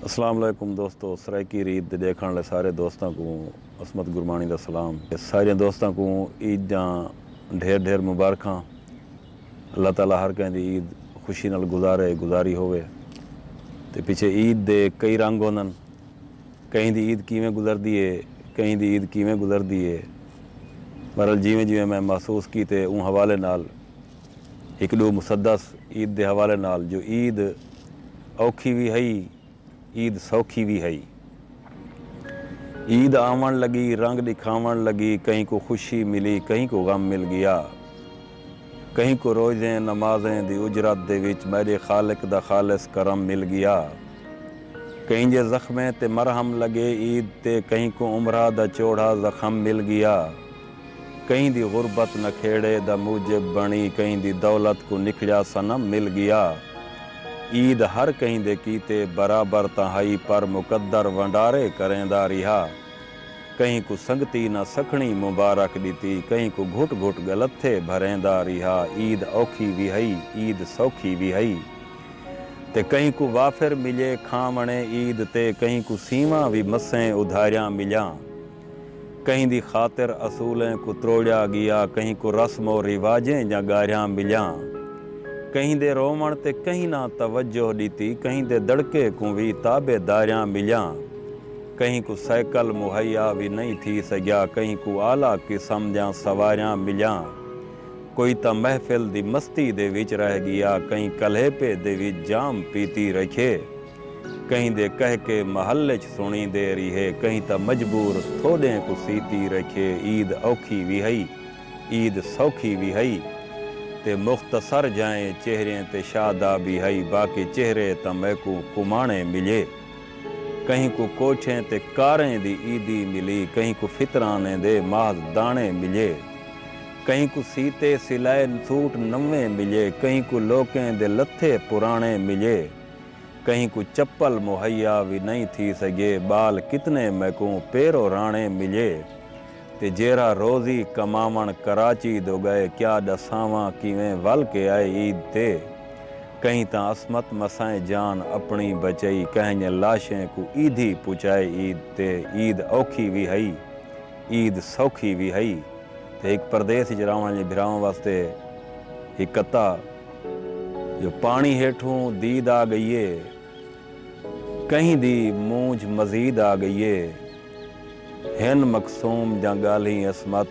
اسلام علیکم دوستو سرائیکی ریت دے ڈیکھن آلے سارے دوستاں کوں عصمت گرمانی دا سلام ساریاں دوستاں کوں عید دیاں ڈھیر ڈھیر مبارکھاں اللہ تعالی ہر کہیں دی عید خوشی نال گزارے گزاری ہووے تے پچھے عید دے کئی رنگ ہوندن کہیں دی عید کیویں گزردی ہے کہیں دی عید کیویں گزردی ہے بہرحال جیویں جیویں میں محسوس کیتے اوں حوالے نال ہک ݙو مسدس عید دے حوالے نال جو عید اوکھی وی ہئی عید سوکھی وی ہئی عید آوݨ لڳی رنگ ݙکھاوݨ لڳی کہیں کوں خوشی ملی کہیں کوں غم مل ڳیا کہیں کوں روزیں نمازیں دی اجرت دے وچ میݙے خالق دا خالص کرم مل ڳیا کہیں جے زخمیں تے مرہم لڳے عید تے کہیں کوں عمرہ دا چوڑھا زخم مل ڳیا۔ کہیں دی غربت نکھیڑے دا موجب بݨی کہیں دی دولت کوں نکھڑیا صنم مل ڳیا عید ہر کہیں دے کیتے برابر تاں ہئی پر مقدر ونڈارے کریندا ریہا کہیں کوں سنگتی نہ سکھڑیں مبارک ݙتی کہیں کوں گھٹ گھٹ ڳلتھے بھریندا ریہا عید اوکھی وی ہئی عید سوکھی وی ہئی تے کہیں کوں وافر ملئے کھاوݨے عید تے کہیں کوں سیواں وی مسئیں ادھاریاں ملیاں۔ کہیں دی خاطر اصولیں کوں تروڑیا گیا، کہیں کوں رسم و رواجیں جاں گاریاں ملیاں۔ کہیں دے رووݨ تے کہیں نہ توجہ ݙتی، کہیں دے دڑکے کوں وی تابع داریاں ملیاں۔ کہیں کوں سائیکل مہیا وی نئیں تھی سڳیا، کہیں کوں اعلی قسم دیاں سواریاں ملیاں۔ کوئی تاں محفل دی مستی دے وچ رہ ڳیا، کہیں کلیپے دے وچ جام پیتی رکھیے۔ کہیں دے کہہ کے محل اچ سنڑیں دے ریہے کہیں تاں مجبور تھوڈیں کوں سیتی رکھے عید اوکھی وی ہئی عید سوکھی وی ہئی تے مختصر جائیں چہریں تے شادابی ہئی باقی چہرے تاں میکوں کمانے ملے کہیں کوں کوٹھیں تے کاریں دی عیدی ملی کہیں کوں فطرانیں دے محض دانے ملے کہیں کوں سیتے سلائے سوٹ نویں ملے کہیں کوں لوکیں دے لتھے پرانے ملے۔ کہیں کوں چپل مہیا وی نئیں تھی سگیے ٻال کتنے میکوں پیرو راݨے ملیے تے جیرھا روزی کماوݨ کراچی دو ڳئے کیا ݙساواں کیویں ول کے آئے عید تے کہیں تاں عصمت مسائیں جان اپݨی بچئی کہیں لاشیں کوں عیدھی پچائے عید تے عید اوکھی وی ہئی عید سوکھی وی ہئی تے ہک پردیس اچ راوݨ آلیں بھراواں واسطے ہک کتا جو پاݨی ہیٹھوں دید آ ڳئی اے کہیں دی مونجھ مزید آ ڳئی اے ہن مقصوم جاں ڳالھیں عصمت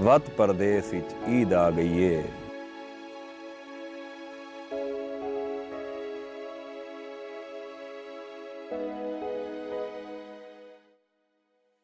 وت پردیس اچ عید آ ڳئی اے۔